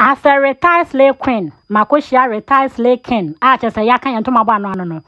As a retired slay queen, makohyia retired slay king a kyerɛ sɛ yɛaka yɛn ntoma bɔ ano ano no.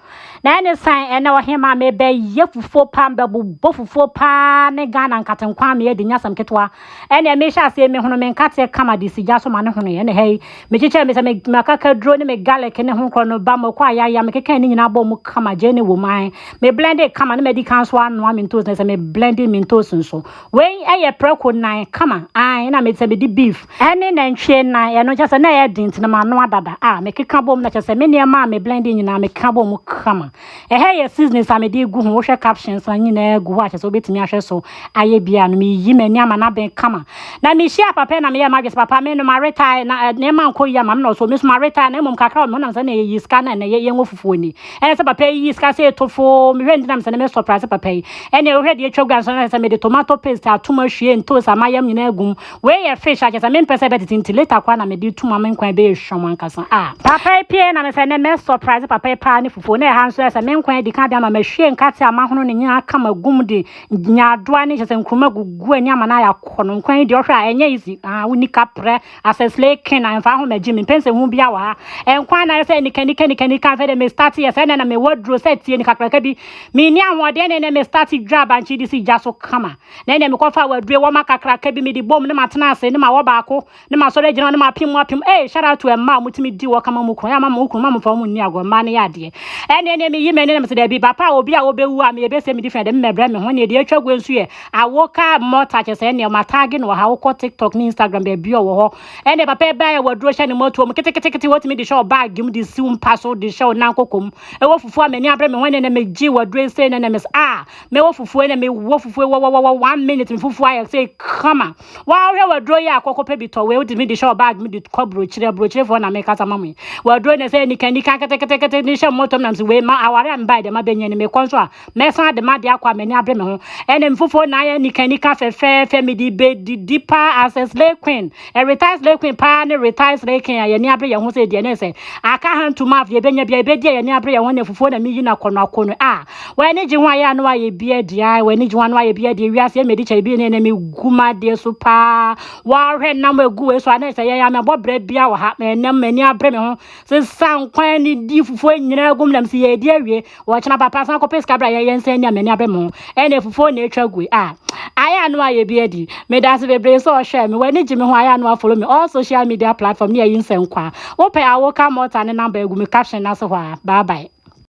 Na ɛne san ɛnɛ ɔhema mebɛyɛ fufuo paa mbɛbobɔ fufuo paa ne Ghana nkate nkwa me adi nyasɛm ketewa. Ɛne mehyɛ aseɛ mehono me nkateɛ kama de sigya so ma ne hono ɛne ha yi. Mekyekyɛ me sɛ me makaka duro ne me garlic ne ho korɔ no ba mako ayaya mekeka ne nyinaa bɔ mu kama gyeene wɔ mu ae. Me blende kama ne madi kan so anoa me ntoos na sɛ me blende me ntoos nso. Wei yɛ prɛko nan kama ae na mete sɛ medi beef ɛne nantwie nan ɛno kyɛ sɛ na ɛyɛ den nti na manoa dada a mekeka bom na kyɛ sɛ me nneɛma a me blend nyinaa mekeka bom kama ɛhɛ yɛ seasonings a mede gu ho wohwɛ captions na nyinaa gu hɔ a kyɛ sɛ wobɛtumi ahwɛ so ayɛ bi a no meyiyi m'ani ama no aben kama na mehyia papa na meyɛ madwe sɛ papa me no maretae na nneɛma nkɔ yi ama me na ɔsɛ ɔmi so maretae na mmom kakra wɔ me honam sɛ na ɛyɛ sika na ɛnɛ yɛngo fufuo ni ɛna sɛ papa yi yi sika sɛ eto fo mehwɛ ntina mi sɛ ne me sɔpra sɛ papa yi ɛna wohwɛ deɛ atwa gua nso na sɛ mede tomato paste atom ahwie ntoos a mayam nyinaa agum wei yɛ fish akyɛ sɛ mempɛ sɛ ɛbɛtete nti later koraa na mede tum ama nkwan bɛyɛ hwam ankasa a papa yi pie na me sɛ ne me sɔpra sɛ papa yi paa ne fufuo na ɛha nso ɛsɛ me nkwan adi ka de ama mahwie nkate a mahono ne nyinaa aka magum de nyaadoa ne kyɛ sɛ nkuruma gugu ani ama no ayɛ akɔnɔ nkwan yi deɛ ɔhwɛ a ɛnyɛ easy ah woni kaprɛ as a slay king and fa ho ma Jimmy mpɛn sɛ hu bia wɔ ha ɛnkwa anaa sɛ nika nika nika nika afɛ de me start yɛ sɛ na me wɔ duro sɛ tie ni kakraka bi me ni ahoɔden ne ne me start dwa abankye di si gya so kama na ne me kɔ fa wadue wɔ ma kakraka bi me di bom ne ma tena ase ne ma wɔ baako ne ma sɔre gyina ne ma apim apim eh shout out to ɛma a mo timi di wɔ kama mo kunu ya ma mo kunu ma mo fa mo ni agorɔ mma ne yɛ adeɛ ɛne ne me yi me ne ne me sɛ dabi bapa obi a obewu a me ebe sɛ me di fɛ de me brɛ me ho ne de atwa gu nso yɛ Ah wo ka mɔta kyɛ sɛ ɛnɛ ɔma taage no wɔ ha wokɔ tiktok ne instagram baabi ɔwɔ hɔ ɛnɛ papa ɛbaa yɛ waduro hyɛ ne mɔtuo mu ketekete wɔtumi de hyɛ wo baage mu de si wo mpa so de hyɛ wo nan koko mu ɛwɔ fufuo a m'ani abere me ho ɛnɛ na megye waduro nsɛ ɛnɛ na mes ah mɛwɔ fufuo ɛnɛ mewɔ fufuo wɔwɔwɔwɔ one minute me fufuo ayɛ sɛ kama wɔahwɛ waduro yɛ akɔkɔ pɛ bi tɔ wei wotumi de hyɛ wo baage mu de kɔ burokyire aburokyirefoɔ na mekasa ma mo yi waduro na sɛ nikanika ketekete ne hyɛ mɔtɔm nam sɛ wei ma aware a mbae deɛ mabɛnya ni mekɔ nso a mɛsan de m'ade akɔ a m'ani abere me ho ɛne mfofo na ayɛ nikanika fɛfɛɛfɛ mede bɛdidi paa as a slay queen a retired slay queen paa ne retired slay king a yɛni abere yɛn ho sɛ deɛ ne sɛ aka hand to mouth yɛbɛnya bia yɛbɛdi a yɛni abere yɛn ho ne fufuo na meyi no akɔno akɔno a w'ani gye ho ayɛ ano ayɛ bi adi a w'ani gye ho ano ayɛ bi adi ewiase mmedi kyɛ bi ne ne megu m'adeɛ so paa wɔahwɛ nam egu wei so a ne sɛ yɛn amɛbɔ berɛ bia wɔ ha mɛnam m'ani abere me ho sesa nkwa ani di fufuo nyinaa gum nam si yɛdi awie wɔkyena papa san kɔpɛ sika bra yɛyɛ nsa ani a m'ani abɛ mu ɛne fufuo na atwa gue a ayɛ ano ayɛ bi adi meda ase bebree sɛ ɔhwɛ me w'ani gye me ho ayɛ ano afolo me all social media platform ne ayi nsɛm kwa wopɛ a woka mɔta ne namba agu me caption no ase hɔ a bye bye